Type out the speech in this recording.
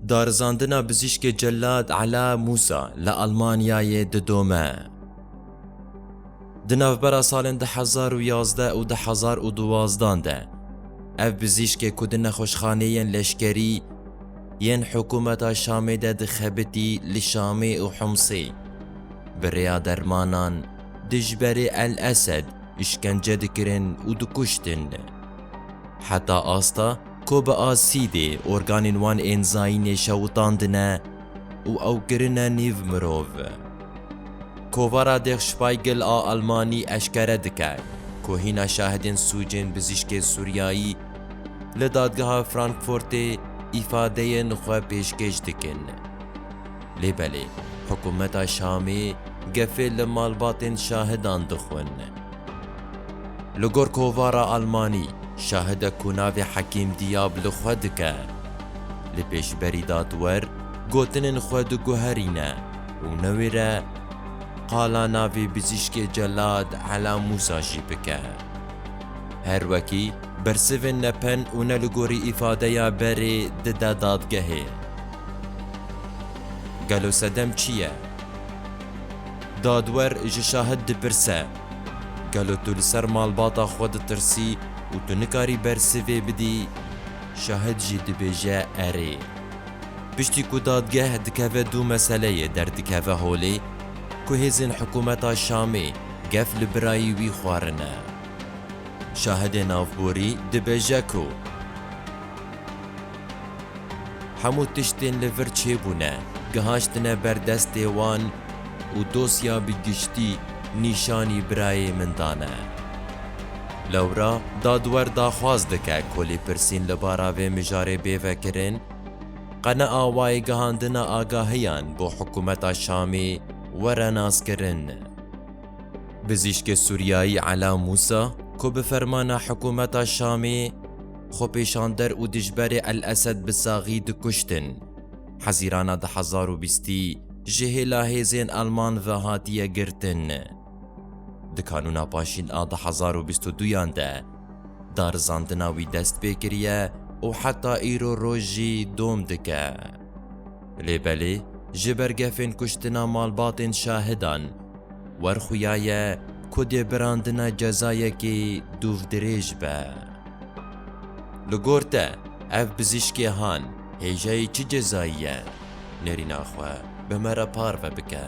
Darizandina Bizîşkê Cellad Ela Mûsa li Almanyayê didome. Di navbera salên du hezar û yazdeh û du hezar û duwazdan de ev bizîşkê ku di nexweşxaneyên leşkerî yên hikûmeta Şamê de dixebitî li Şamê û Humsê bi rêya dermanan dijberê El Esed îşkence dikirin û dikuştin. Heta asta Ku bi asîdê organên wan ên zayînê şewitandine û ew kirine nîv mirov. Kovara Der Spiegel a Elmanî eşkere dike ku hîna şahidên sûcên bizîşkên Sûriyayî li dadgeha Frankfurtê îfadeyên xwe pêşkêş dikin. Lê belê hikûmeta Şamê gefê li malbatên şahidan dixwin. Li gor kovara Almanî, şahidek ku navê Hekîm Dîyab li xwe dike, li pêşberî dadwer gotinên xwe diguherîne û newêre qala navê bizîşkê Celad Ela Mûsa jî bike. Her wekî bersivên ne pen û ne li gorî îfadeya berê dide dadgehê. Gelo sedem çi ye? Dadwer ji şahid dipirse, Gelo tu li ser malbata xwe ditirsî û tu nikarî bersivê bidî? Şahid jî dibêje erê. Piştî ku dadgeh dikeve du meseleyê derdikeve holê ku hêzên hikûmeta Şamê gef li birayî wî xwarine. Şahidê navborî dibêje ku. Hemû tiştên li vir çêbûne, gihaştine ber destê wan û dosya bi giştî nîşanî birayê min dane. Lewra dadwer daxwaz dike ku lêpirsîn li bara vê mijarê bê vekirin. Qenea wayê gihandina agahiyan bo hikûmeta Şamê were naskirin. Bizîşkê Sûriyayî Ela Mûsa ku bi fermana hikûmeta Şamê, Xwepêşander û dijberê El Esed bi saxî dikuştin. Hezîrana du hezar û bîstî ji hêla hêzên Elman ve hatiye girtin. Di kanûna paşîn a du hezar û bîst û duyan de darizandina wî dest pê kiriye û heta îro roj jî dom dike. Lê belê ji ber gefên kuştina malbatên şahidan werxuyaye ku dê birandina cezayekî dûvdirêj be. Li gor te ev pizîşkê han hêjayî çi cezayî ye? Nêrîna xwe bi me re parve bike.